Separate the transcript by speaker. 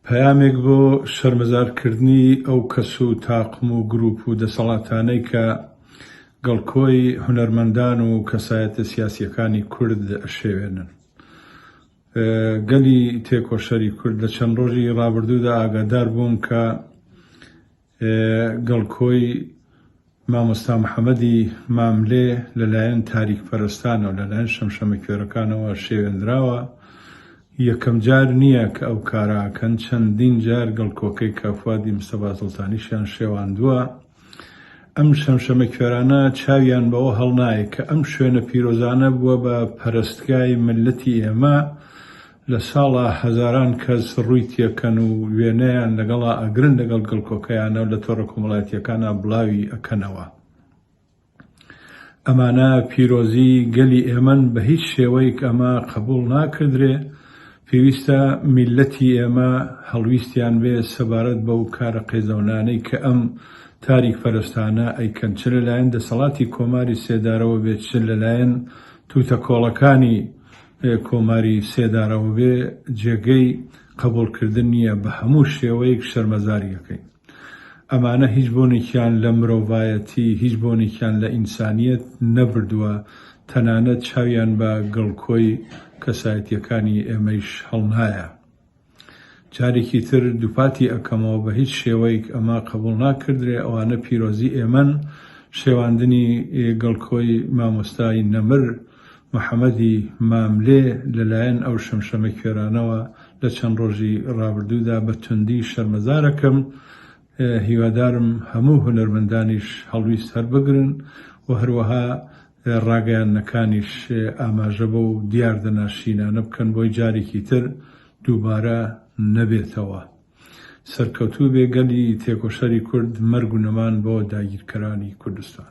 Speaker 1: پەیامێک بۆ شەرمەزار کردنی ئەو کەس و تاقم و گروپ و دەسەڵاتانەی کە گڵکۆی هونەرمەندان و کەسایەتە سیاسیەکانی کورد ئەشێوێنن. گەلی تێکۆشەری کورد لە چەند ڕۆژی ڕابردوودا ئاگادار بوون کە گەڵ کۆی مامۆستا محەمەدی ماملێ لە لایەن تاریک پەرستانەوە لە لایەن شەمشەمە کوێرەکانەوە شێوێنراوە یەکەم جار نییە کە ئەو کاراکەن چەندین جار گەڵ کۆکەی کافوادی مستەفا سڵتانیشیان شێواندووە ئەم شەمشەمە کوێرانە چاویان بەوە هەڵنایە کە ئەم شوێنە پیرۆزانە بووە بە پەرستگای ملەتی ئێمە لە ساڵا هەزاران کەس ڕووی تێکەن و وێنەیان لەگەڵا ئەگرن لەگەڵ گڵکۆکەیانا و لە تۆڕە کۆمەڵایەتیەکانا بڵاوی ئەکەنەوە. ئەمانە پیرۆزی گەلی ئێمەن بە هیچ شێوەیک ئەمە قەبوڵ ناکردرێ، پێویستە میللەتی ئێمە هەڵویستیان بێ سەبارەت بەو کارە قێزەونانەی کە ئەم تاریک پەرستانە ئەیکەن چ لەلایەن دەسەڵاتی کۆماری سێدارەوە بێت چ لەلایەن توتەکۆڵەکانی کۆماری سێدارەوە بێ جێگەی قەبوڵ کردن نیە بە هەموو شێوەیک شەرمەزاریەکەین ئەمانە هیچ بۆنێکیان لە مرۆڤایەتی هیچ بۆنێکیان لە ئینسانیەت نەبردوە تەنانەت چاویان بە گڵکۆی کەسایەتیەکانی ئێمەیش هەڵنایە. جارێکی تر دووپاتی ئەکەمەوە بە هیچ شێوەیک ئەمە قەبوڵ ناکردرێ ئەوانە پیرۆزی ئێمەن شێواندنی گڵکۆی مامۆستای نەمر محمدی ماملێ لەلایەن ئەو شەمشەمە کوێرانەوە لە چەند ڕۆژی ڕابردوودا بە توندی شەرمەزارەکەم هیوادارم هەموو هونەرمەندانیش هەڵویست هەربگرن و هەروەها ڕاگەیاندنەکانیش ئاماژە بەو دیاردە ناشرینانە بکەن بۆی جارێکی تر دووبارە نەبێتەوە. سەرکەوتووبێ گەلی تێکۆشەری کورد مەرگ و نەمان بۆ داگیرکەرانی کوردستان.